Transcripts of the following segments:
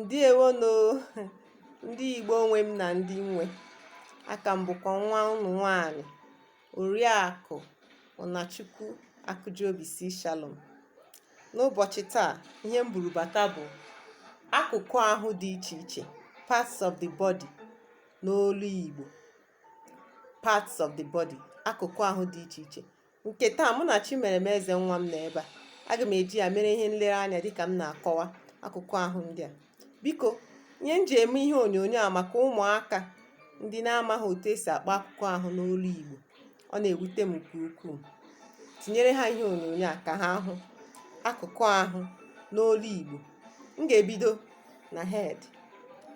ǹdeèwonù ndị Ìgbo nwe m nà ndị nwe aka m bụ̀kwà nwa ụnụ nwaanyị̀ Òriàkụ Ụ̀nàchukwu Akụjiobisi Shalom n'ụbọ̀chị̀ taa ihe m buru bàta bụ̀ akụ̀kụ ahụ dị ichè ichè parts of the body n'olu Ìgbò parts of the body akụ̀kụ ahụ dị ichè ichè nke taa mụ na Chimeremeze nwa m nọ ebe a aga m eji ya mere ihe nlereanya dịka m na-akọwa akụkụ ahụ ndị a biko ihe m ji eme ihe onyonyo a maka ụmụaka ndị na-amaghị otu esi akpọ akụkụ ahụ n'olu Igbo ọ na-ewute m nke ukwuu tinyere ha ihe onyonyo a ka ha hụ akụkụ ahụ n'olu Igbo m ga-ebido na head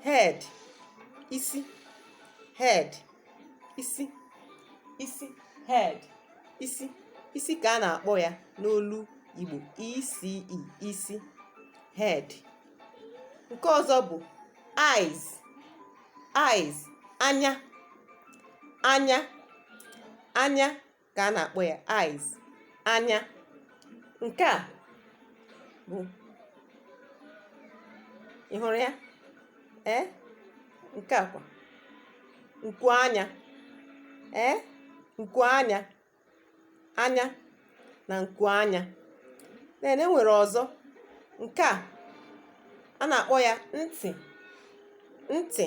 head isi head isi isi head isi isi ka a na-akpọ ya n'olu Igbo isi isi head nke ọzọ bụ eyes eyes anya anya anya ka a na-akpọ ya eyes anya nke a bụ ị hụrụ ya ee nke a kwa nku anya ee nku anya anya na nku anya then e nwere ọzọ nke a a na-akpọ ya ntị ntị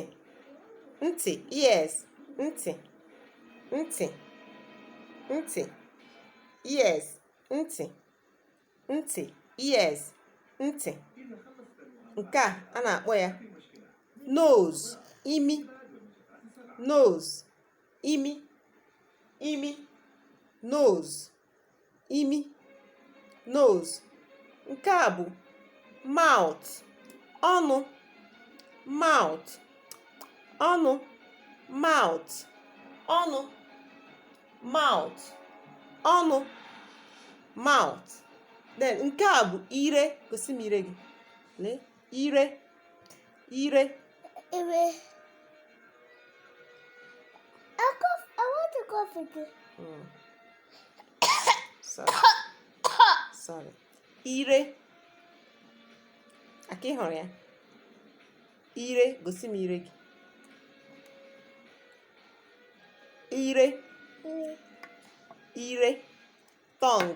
ntị ears ntị ntị ntị ears ntị ntị ears ntị nke a a na-akpọ ya nose imi nose imi imi nose imi nose nke a bụ mouth ọnụ mouth ọnụ mouth ọnụ mouth ọnụ mouth then nke a bụ ire gosi m ire gị lee ire ire ire I, cough, I want to cough again. Mm. Sorry. Sorry. Ire. Aka ị hụrụ ya? Ire, gosi m ire gị. Ire. Ire. Tongue.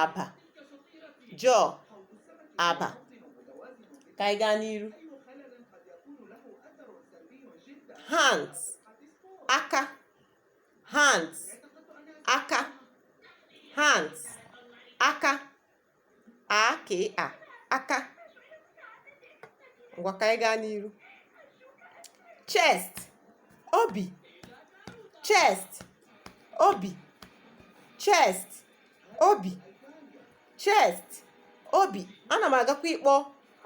agba jaw agba ka anyị gaa n'iru hands aka hands aka hands aka a ka a aka ngwa ka anyị gaa n'iru chest obi chest obi chest obi chest obi ana m agakwa ịkpọ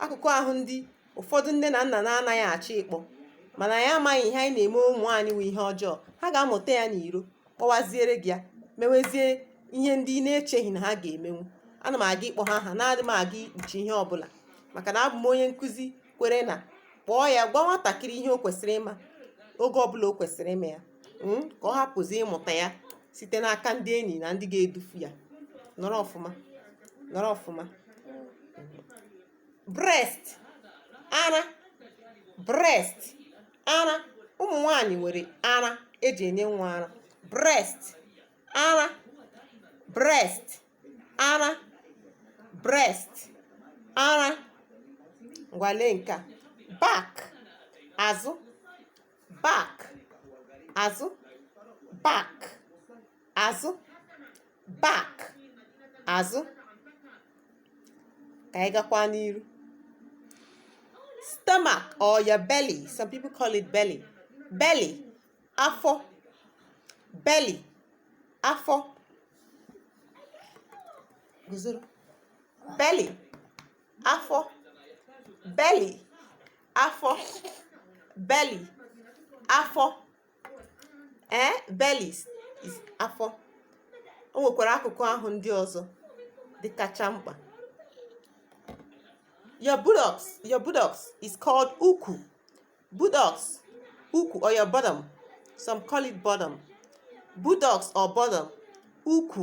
akụkụ ahụ ndị ụfọdụ nne na nna na-anaghị achọ ịkpọ mana anyị amaghị ihe anyị na-eme ụmụ anyị wụ ihe ọjọọ ha ga-amụta ya n'iro kpọwaziere gị ya mewezie ihe ndị ị na-echeghị na ha ga-emenwu ana m aga ịkpọ ha aha anaghị m aga ikpuchi ihe ọbụla maka na abụ m onye nkụzi kwere na kpọọ ya gwa nwatakịrị ihe o kwesịrị ịma oge ọbụla o kwesịrị ịma ya hmm, ka ọ hapụzi ịmụta ya site n'aka ndị enyi na ndị ga-edufu ya nọrọ ọfụma nọrọ ọfụma breast ara breast ara ụmụ nwanyị nwere ara eji enye nwa ara breast ara breast ara breast ara ngwa lee nke a back azụ back azụ back azụ back azụ ka anyị gakwa n'iru stomach or your belly some people call it belly belly afọ belly afọ guzoro belly afọ belly afọ belly afọ ee eh, belly is afọ o nwekwara akụkụ ahụ ndị ọzọ dị kacha mkpa your buttocks your buttocks is called ukwu buttocks ukwu or your bottom some call it bottom buttocks or bottom ukwu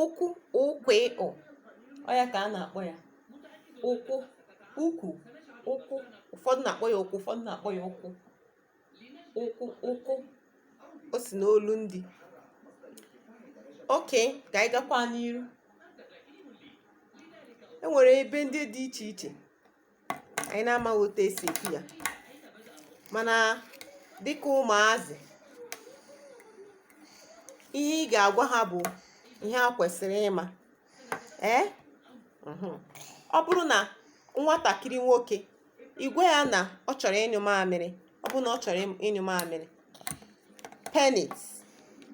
ukwu ukwu ịkpụ ọ ya ka a na-akpọ ya ukwu ukwu ukwu ụfọdụ na-akpọ ya ukwu ụfọdụ na-akpọ ya ukwu ukwu ukwu o si n'olu ndị okay ka anyị gakwa n'iru e nwere ebe ndị dị iche iche anyị na-amaghị otu esi ekwu ya mana dịka ụmụazị ihe ị ga-agwa ha bụ ihe ha kwesịrị ịma ee ọ bụrụ na nwatakịrị nwoke ị gwa ya na ọ chọrọ ịnyụ mamịrị ọ bụrụ na ọ chọrọ ịnyụ mamịrị penis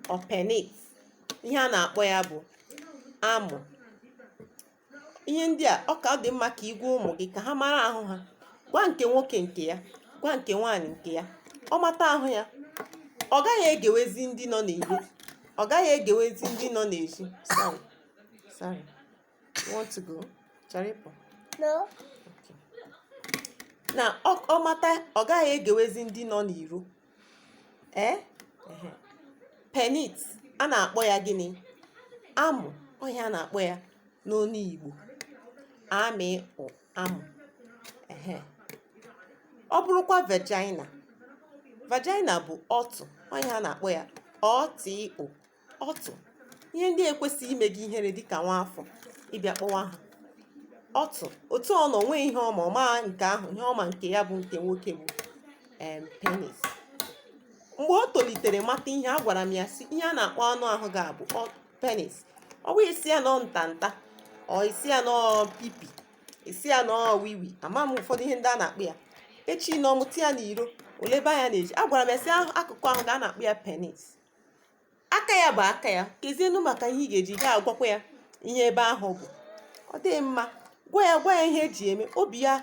ọ penis ihe a na-akpọ ya bụ amụ ihe ndị a ọ ka ọ dị mma ka ị gwa ụmụ gị ka ha mara ahụ ha gwa nke nwoke nke ya gwa nke nwaanyị nke ya ọ mata ahụ ya ọ gaghị egewezi ndị nọ n'ezi ọ gaghị egewezi ndị nọ n'ezi sorry sorry you want to go chọrọ ịpụ No. na ọ ọ mata ọ gaghị egewezi ndị nọ n'iro ee penis a na-akpọ ya gịnị amụ ọ ihe a na-akpọ ya n'onu igbo a mị ụ amụ ehe ọ bụrụkwa vagina vagina bụ ọtụ ọ ihe a na-akpọ ya ọ tị ụ ọtụ ihe ndị ekwesịghị ime gị ihere dịka nwa afọ ị bịa kpọwa ha ọtụ otu ọ nọ nwee ihe ọ ma ọ ma nke ahụ ihe ọ ma nke ya bụ nke nwoke bụ em penis mgbe o tolitere mata ihe agwara m ya sị ihe a na-akpọ anụ ahụ gị a bụ ọ- penis ọ bụ ị sị ya na ọ nta nta ọ ị sị ya na ọ pipi ị sị ya na ọ wiwi ama m ụfọdụ ihe ndị a na-akpọ ya echi na ọ mụta ya n'iro oleba ya na-eji agwara m ya sị ahụ- akụkụ ahụ gị a a na-akpọ ya penis aka ya bụ aka ya kezienụ maka ihe ị ga-eji gaa agwakwa ya ihe ebe ahụ bụ ọ dịghị mma gwa ya gwa ya ihe e ji eme obi ya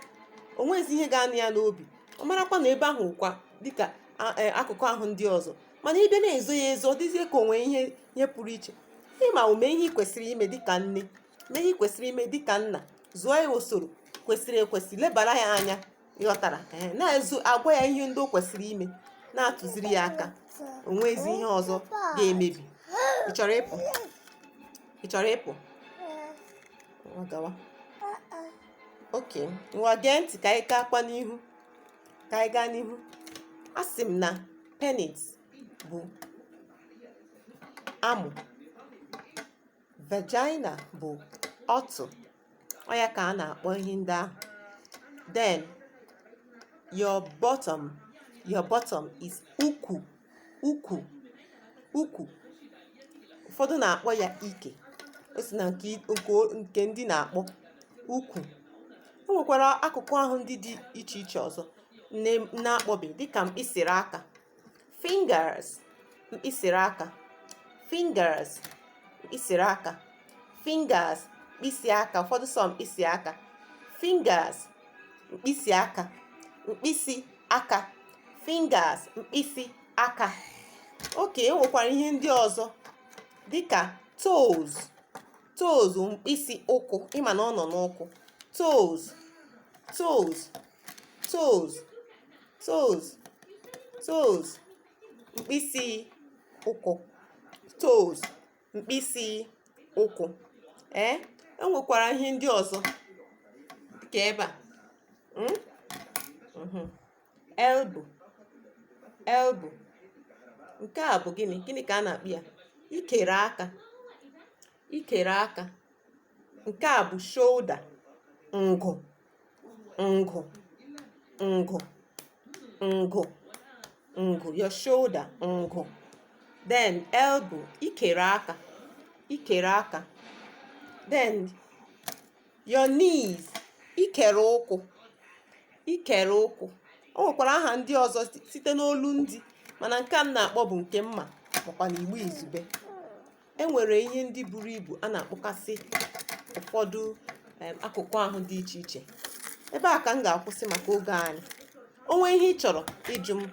o nweghịzi ihe ga-anọ ya n'obi ọ marakwa na ebe ahụ kwa dịka a- e, akụkụ ahụ ndị ọzọ mana ị bịa na-ezo ya ezo ọ dịzie ka o nwe ihe ihe pụrụ iche ịma o mee ihe ị kwesịrị ime dịka nne mee ihe ị kwesịrị ime dịka nna zụọ ya usoro kwesịrị ekwesị lebara ya anya ịghọtara ee na-ezu agwa ya ihe ndị o kwesịrị ime na-atụziri ya aka o nweghịzi ihe ọzọ ga-emebi ị chọrọ ịpụ ị chọrọ ịpụ ngwa gawa okay ngwa gee ntị ka anyị gaakwa n'ihu ka anyị gaa n'ihu asị m na penis bụ amụ vagina bụ ọtụ ọ ya ka a na-akpọ ihe ndị ahụ then your bottom your bottom is ukwu ukwu ukwu ụfọdụ na-akpọ ya ike o si na nke nke ndị na-akpọ ukwu o nwekwara akụkụ ahụ ndị dị iche iche ọzọ na-akpọbeghị dịka mkpịsịrị aka fingers mkpịsịrị aka fingers mkpịsịrị aka fingers mkpịsị aka ụfọdụ sị mkpịsị aka fingers mkpịsị aka mkpịsị aka fingers mkpịsị aka okay e nwekwara ihe ndị ọzọ dịka toes toes mkpịsị ụkwụ ị ma na ọ nọ n'ụkwụ toes toes toes toes toes mkpịsị ụkwụ toes mkpịsị ụkwụ ee eh? enwekwara ihe ndị ọzọ ka ebe a hmm? mhm. elbow elbow nke a bụ gịnị gịnị ka a na-akpọ ya ikere aka ikere aka nke a bụ shoulder ngụ ngụ ngụ ngụ ngụ your shoulder ngụ then elbow ikere aka ikere aka then your knees ikere ụkwụ ikere ụkwụ o nwekwara aha ndị ọzọ site n'olu ndị mana nke a m na-akpọ bụ nke m ma makwa na igbo izugbe e nwere ihe ndị buru ibu a na-akpọkasị ụfọdụ akụkụ ahụ dị iche iche ebe a ka m ga-akwụsị maka oge anyị o nwee ihe ị chọrọ ịjụ m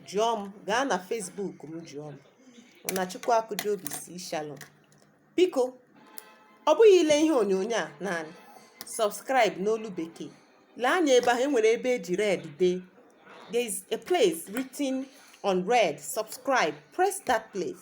jụọ m gaa na Facebook m jụọ m na Chukwu Akụjiobi C Shalom biko ọ bụghị ile ihe onyonyo a naanị subscribe n'olu bekee lee anya ebe ahụ enwere ebe eji red dee there is a place written on red subscribe press that place